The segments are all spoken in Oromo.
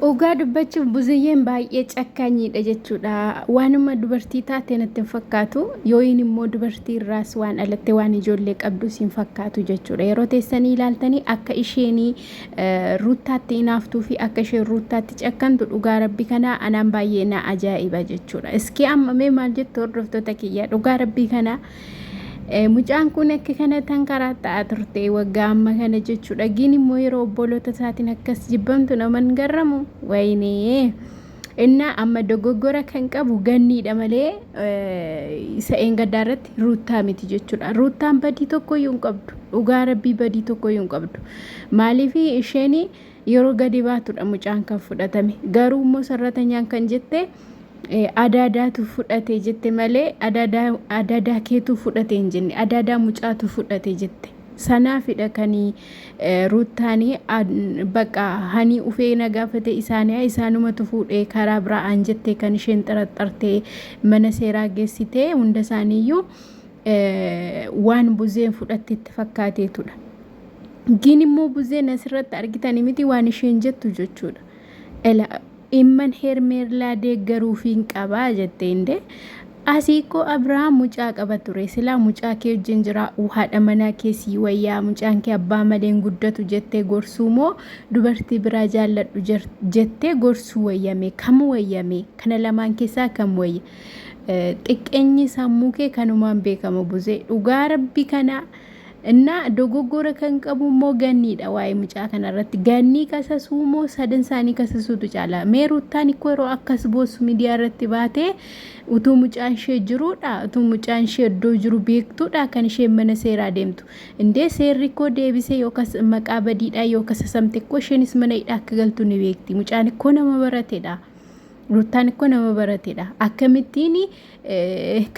Dhugaa dubbachuuf buziyyeen baay'ee cakkaanyiidha jechuudha. Waanuma dubartii taate natti hin fakkaatu. Yooyin immoo dubartii irraas waan dhalatte waan ijoollee qabdus hin fakkaatu jechuudha. Yeroo teessanii ilaaltanii akka isheenii eh, ruuttaatti inaaftuu fi akka isheen ruuttaatti cakkantu dhugaa rabbi kanaa anaan baay'ee na ajaa'iba jechuudha. Iskii amma mee maal jettu hordoftoota kiyya dhugaa rabbii kanaa Mucaan kun akka kana tan karaa ta'aa turte waggaa amma kana jechuudha. Giin immoo yeroo obboloota isaatiin akkas jibbamtu naman garramu wayinee. Innaa amma dogoggora kan qabu ganniidha malee isa eengaddaa irratti ruuttaa miti jechuudha. Ruuttaan badii tokkoyyuu hin qabdu. Dhugaa rabbii badii tokkoyyuu hin qabdu. Maaliif isheen Yeroo gadi baatudha mucaan kan fudhatame. Garuu immoo sarratanyaan kan jette adaadaatu fudhate jette malee adaadaa adaadaa keetuu fudhate hin jenne adaadaa mucaatu fudhate jette. Sanaafidha kanii ruuttaanii bakka hanii ufee na gaafate isaanii isaanumatu fuudhee karaa biraa aan jettee kan isheen xaraxxartee mana seeraa geessitee hunda isaaniiyyuu waan buzeen fudhatte itti fakkaateetudha. Giin immoo buzeen asirratti argitan miti waan isheen jettu jechuudha. Ela imman hermeerlaa deeggaruufiin qabaa jette indee. Asii koo Abiraam mucaa qaba ture silaa mucaa kee wajjin jira haadha manaa kee sii wayyaa mucaan kee abbaa malee hin guddatu jettee gorsuu moo dubartii biraa jaalladhu jer- jettee gorsuu wayyame kam wayyame kana lamaan keessaa kam wayya Eh, xiqqeenyi sammuu kee kanumaan beekama buzee dhugaa rabbi kana Innaa dogoggora kan qabu immoo ganniidha waa'ee mucaa kana irratti. Gannii kasasuu moo sadan isaanii kasasuutu caala. Mee ruttaan ikkoo yeroo akkas boossu miidiyaa irratti baatee utuu mucaan ishee jiruudha utuu mucaan ishee iddoo jiru beektuudha kan isheen mana seeraa deemtu. Indee seerri ikkoo deebisee yookas maqaa badiidhaa yoo kasasamte ikkoo isheenis mana hidhaa akka galtu ni beekti. Mucaan ikkoo nama barateedha. Ruttaan ikkoo nama barateedha. Akkamittiin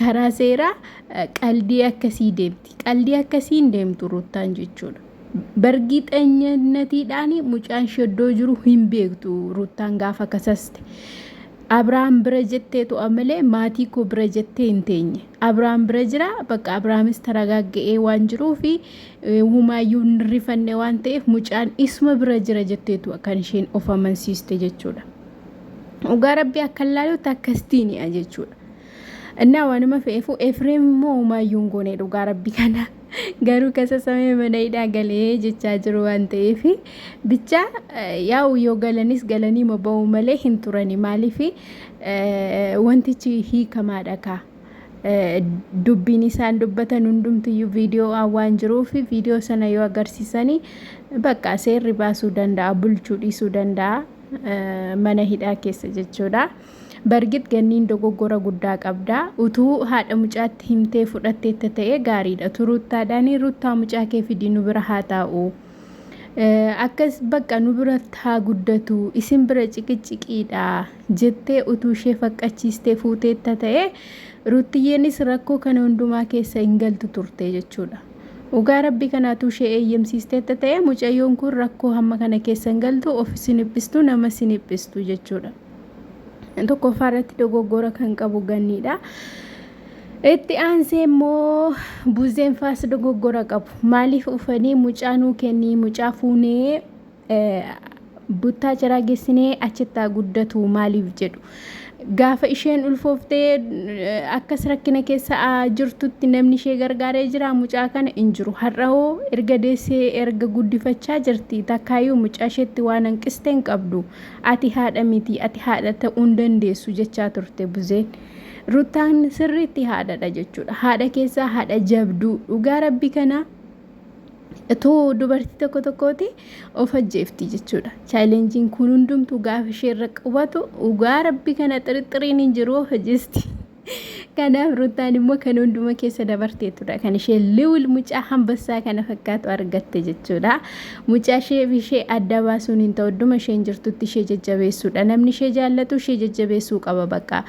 karaa seeraa qaldii akkasii deemti. Qaldii akkasii hin deemtu Ruuttaan jechuudha. Bargiixanyannatiidhaan mucaan ishee iddoo jiru hin beektu Ruuttaan gaafa kasaste. Abiraam bira jettee to'a malee maatii koo bira jettee hin teenye. Abiraam bira jira bakka Abiraamis taragaagga'ee waan jiruu fi humaayyuu hin rifanne waan ta'eef mucaan isuma bira jira jettee to'a kan isheen of amansiiste jechuudha. dhugaa rabbii akkan laalutti akkastiini'a jechuudha innaa waanuma fe'eefuu efreem immoo umaayyuu hin goone dhugaa rabbii kana garuu kasasamee mana hidhaa galee jechaa jiru waan ta'eef bicha yaa'u yoo galanis galanii maba'uu malee hin turani maaliif wantichi hiikamaadha kaa dubbiin isaan dubbatan hundumtiyyuu viidiyoo waan jiruuf viidiyoo sana yoo agarsiisanii bakka seerri baasuu danda'a bulchuu dhiisuu danda'a mana hidhaa keessa jechuudha. Bargit ganniin dogoggora guddaa qabda. Utuu haadha mucaatti himtee fudhatteetta ta'e gaariidha. Utuu ruuttaadhaan ruuttaa mucaa kee fidii nu bira haa taa'u. Akkas bakka nu biratti haa guddatu isin bira ciqiciqiidha jettee utuu ishee faqqachiistee fuuteetta ta'e ruuttiyyeenis rakkoo kana hundumaa keessa hin galtu turte jechuudha. Dhugaa rabbi kan atuu ishee eeyyamsiisteetta ta'ee mucayyoon kun rakkoo hamma kana keessa hin galtu of isin dhiphistu nama isin dhiphistu jechuudha. Tokkoffaa irratti dogoggora kan qabu ganniidha. Itti aansee immoo buzeen faas dogoggora qabu. Maaliif ufanii mucaa nuu kennii mucaa fuunee buttaa jiraa gessinee achittaa guddatuu maaliif jedhu gaafa isheen ulfooftee akkas rakkina keessa jirtutti namni ishee gargaaree jira mucaa kana hin jiru har'aoo erga deessee erga guddifachaa jirti takkaayyuu mucaa isheetti waan hanqiste hin qabdu ati haadha miti ati haadha ta'uu hin dandeessu jechaa turte buzeen ruttaan sirriitti haadhadha jechuudha haadha keessaa haadha jabduu dhugaa rabbi kanaa Utuu dubartii tokko tokkooti of ajjeefti jechuudha. Chaalenjiin kun hundumtuu gaafa ishee irra qubatu dhugaa rabbi kana xirixiriin hin jiru of ajjeesti. Kanaaf Ruutaan immoo kan hunduma keessa dabarteetudha. Kan ishee liwil mucaa hambassaa kana fakkaatu argatte jechuudha. Mucaa ishee fi ishee adda baasuun hin ta'u. Idduma isheen jirtutti ishee jajjabeessuudha. Namni ishee jaallatu ishee jajjabeessuu qaba bakka.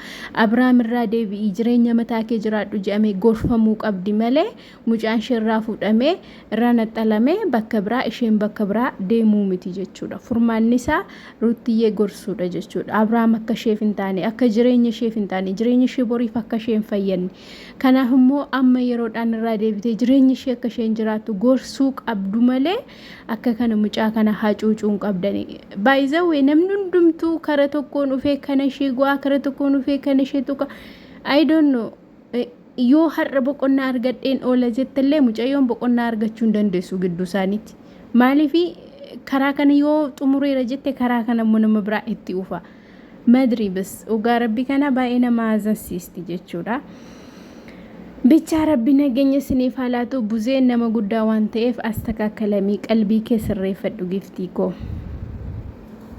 Abiraam irraa deebi'i jireenya mataa kee jiraadhu jedhamee gorfamuu qabdi malee mucaan ishee irraa fuudhamee irraa naxxalamee bakka biraa isheen bakka biraa deemuu miti jechuudha furmaanni isaa ruuttiyyee gorsuudha jechuudha abrahaam akka isheef hin taane akka jireenya isheef hin taane jireenya ishee boriif akka ishee hin fayyadne kanaaf immoo amma yeroodhaan irraa deebitee jireenya ishee akka isheen jiraattu gorsuu qabdu malee akka kana mucaa kana hacuucuu hin qabdani baay'izawwee namni hundumtuu kara tokkoon dhufee kana ishee go'aa kara tokkoon dhufee kana ishee tuqa I don't know yoo har'a boqonnaa argadheen oola jettellee mucayyoon boqonnaa argachuu hin dandeessu gidduu isaaniitti. Maaliif karaa kana yoo xumureera jette karaa kana immoo nama biraa itti ufa. Madri bas dhugaa rabbi kana baay'ee nama haazansiisti jechuudha. Bichaa rabbi nageenya isiniif haa laatu buzeen nama guddaa waan ta'eef astakaakalamii qalbii kee sirreeffadhu giftii koo.